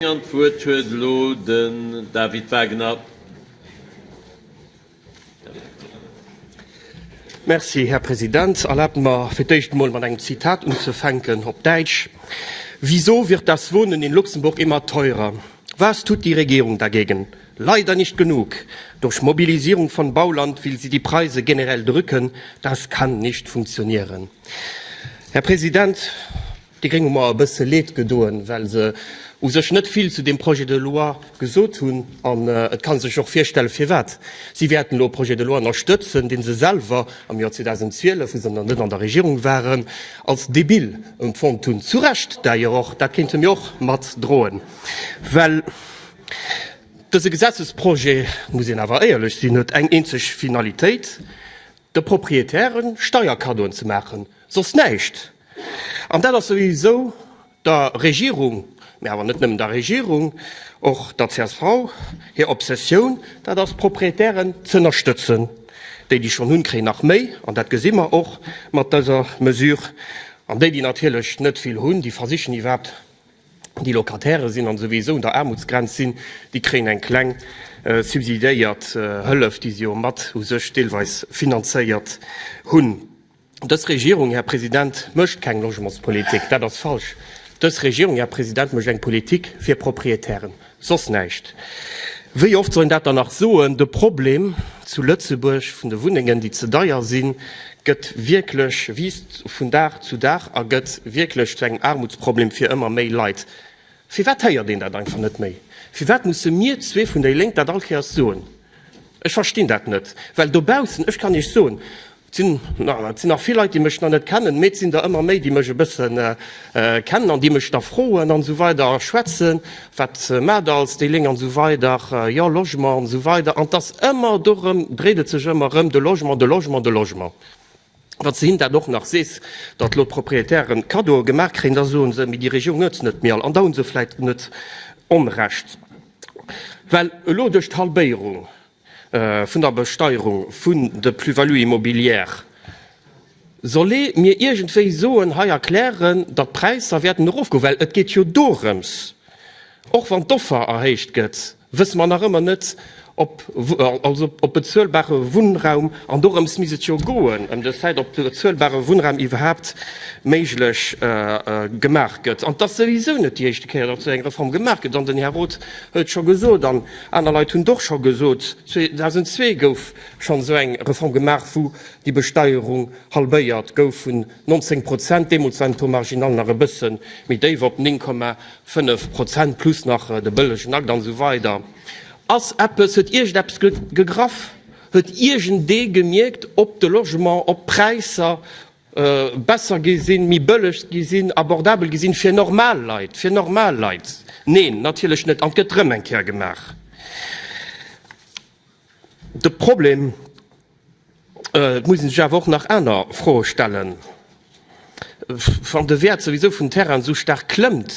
An d'Wuert huet elo den David Wagner. Merci, Här President. Erlaabt mer, fir d'éischt emol mat engem Zitat unzufänken, op Däitsch, Wieso wird das Wohnen in Luxemburg immer teurer? Was tut die Regierung dagegen? Leider nicht genug! Durch Mobilisierung von Bauland will sie die Preise generell drücken. Das kann nicht funktionieren. Här President, Déi Gréng hu mer e bësse Leed gedoen, well se u sech net vill zu deem Projet de loi gesot hunn. An et ka sech och virstellen, firwat. Si wäerten elo e Projet de loi ënnerstëtzen, dee se selwer am Joer 2012, wou se nach net an der Regierung waren, als debil empfonnt hunn. Zu Recht d'ailleurs och, dat kéinte mir och mat droen. Well dëse Gesetzesprojet, muss een awer éierlech sinn, huet eng eenzeg Finalitéit, de Proprietäre Steierkaddoen ze maachen, soss näischt. An dat ass souwisou der Regierung, mä awer net nëmmen der Regierung, och der csv hir Obsessioun, dat ass d'Proprietären ze ënnerstëtzen. Déi, déi schonn hunn, kréien nach méi, an dat gesi mer och mat dëser Mesure. An déi, déi natierlech net vill hunn, déi versichen iwwerhaapt, déi Locataire sinn an souwisou un der Aarmutsgrenz sinn, déi kréien eng kleng subsidiéiert Hëllef, déi si jo mat u sech deelweis finanzéiert hunn. Dës Regierung, Här President, mécht keng Logementspolitik. Dat ass falsch. Dës Regierung, Här President, mécht eng Politik fir Proprietären, soss näischt. Wéi oft soll een dat dann nach soen? De Problem zu Lëtzebuerg vun de Wunnengen, déi ze deier sinn, gëtt wierklech, wiisst vun Dag zu Dag a gëtt wierklech zu engem Aarmutsproblem fir ëmmer méi Leit. Firwat héiert een dat einfach net méi? Firwat musse mir zwee vun déi Lénk dat all Kéiers soen? Ech verstinn dat net, well dobaussen, ech kann Iech soen, et sinn nach vill Leit, déi mech nach net kennen, mee et sinn der ëmmer méi, déi mech e bësse kennen an déi mech da froen an esou weider a schwätzen, Wat maacht Der als déi Léng? an esou weider, jo, Logement an esou weider. An et ass ëmmer dorëm, dréit et sech ëmmer erëm, de Logement, de Logement, de Logement. Wann s de hinnen dat och nach sees, datt elo d'Propriétairen Cadeaue gemaach kréien, da soe se, mee déi Regierung huet se net méi all. An da hu se vläicht net Onrecht, well elo duerch d'Halbéierung vun der Besteierung vun de Plus-values immobilières soll ee mir iergendwéi soen, hei erklären, datt d'Präisser wäerten erofgoen. Well et geet jo dorëms, och wann d'Offer erhéicht gëtt, wësse mer nach ëmmer net, ob also op bezuelbare Wunnraum, an dorëms misst et jo goen, ëm de Fait, ob bezuelbare Wunnraum iwwerhaupt méiglech gemaach gëtt. An et ass souwisou net déi éischte Kéier, datt esou eng Reform gemaach gëtt. An den Här Roth huet et scho gesot an aner Leit hunn et och scho gesot, 2002 gouf schonn esou eng Reform gemaach, wou déi Besteierung halbéiert gouf vun 19 Prozent, deemools war den Taux marginal nach e bësse méi déif, op 9, Fënnef Prozent plus nach de bëllegen Akt an esou weider. Ass eppes, huet Iech eppes gegraff? Huet iergendee gemierkt, ob de Logement, ob d'Präisser besser gi sinn, méi bëlleg gi sinn, abordabel gi sinn fir normal Leit, fir normal Leit? Neen, natierlech net. An et gëtt erëm eng Kéier gemaach. De Problem, et muss ee sech awer och nach aner Froe stellen, wann de Wäert souwisou vum Terrain esou staark klëmmt,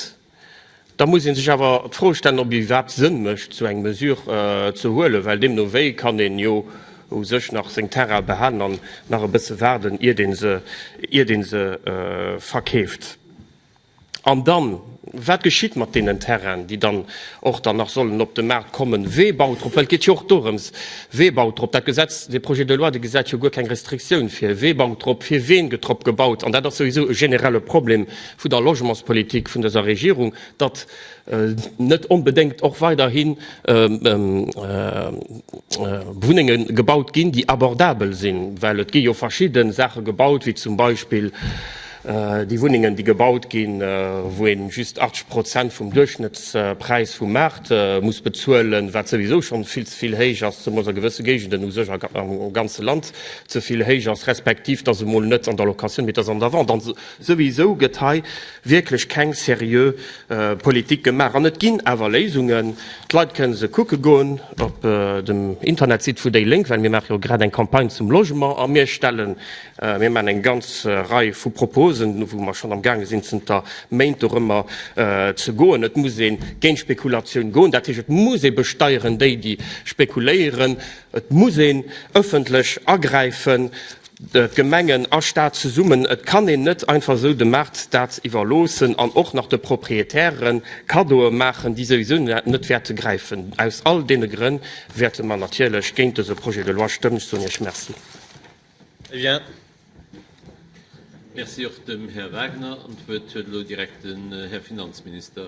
da muss ee sech awer d'Fro stellen, ob et iwwerhaapt Sënn mécht, esou eng Mesure ze huelen, well deemno wéi kann een jo u sech nach seng Terraine behalen an nach e bësse waarden, iert ee se verkeeft. An dann, wat geschitt mat deenen Terrainen, déi dann och dann nach sollen op de Maart kommen? Wee baut drop? Well et geet jo och dorëms, wee baut drop? Dat Gesetz, dee Projet de loi, dee gesäit jo guer keng Restriktioun vir, wee baut drop, fir ween gëtt drop gebaut? An dat ass souwisou e generelle Problem vun der Logementspolitik vun dëser Regierung, datt net onbedéngt och weiderhi Wunnenge gebaut ginn, déi abordabel sinn, well et gi jo verschidde Saache gebaut, wéi zum Beispill déi Wunnengen, déi gebaut ginn, wou ee just 80 Prozent vum Duerchschnëttspräis vum Maart muss bezuelen, wat souwisou schonn vill ze vill héich ass, zemoos a gewësse Géigenden, u sech am ganze Land ze vill héich ass, respektiv dass emol net an der Location, mee dass an der Vente. An souwisou gëtt hei wierklech keng seriö Politik gemaach an et ginn awer Léisungen. D'Leit kënne se kucke goen op dem Internetsite vu déi Lénk, well mir maache jo grad eng Campagne zum Logement a mir stellen, mir maachen eng ganz Rei vu Proposen, wou mer schonn amgaange sinn zënter Méint dorëmmer ze goen. Et muss ee géint d'Spekulatioun goen, dat heescht et muss ee besteieren déi, déi spekuléieren. Et muss een ëffentlech agräifen. Gemengen a Staat zesummen, et kann een net einfach esou dem Maart dat iwwerloossen an och nach de Proprietäre Kaddoe maachen, déi souwisou net wäerte gräifen. Aus all deene Grënn wäerte mer natierlech géint dëse Projet de loi stëmmen. Ech soen Iech Merci. Très bien. Merci och dem Här Wagner. An d'Wuert huet elo direkt den Här Finanzminister.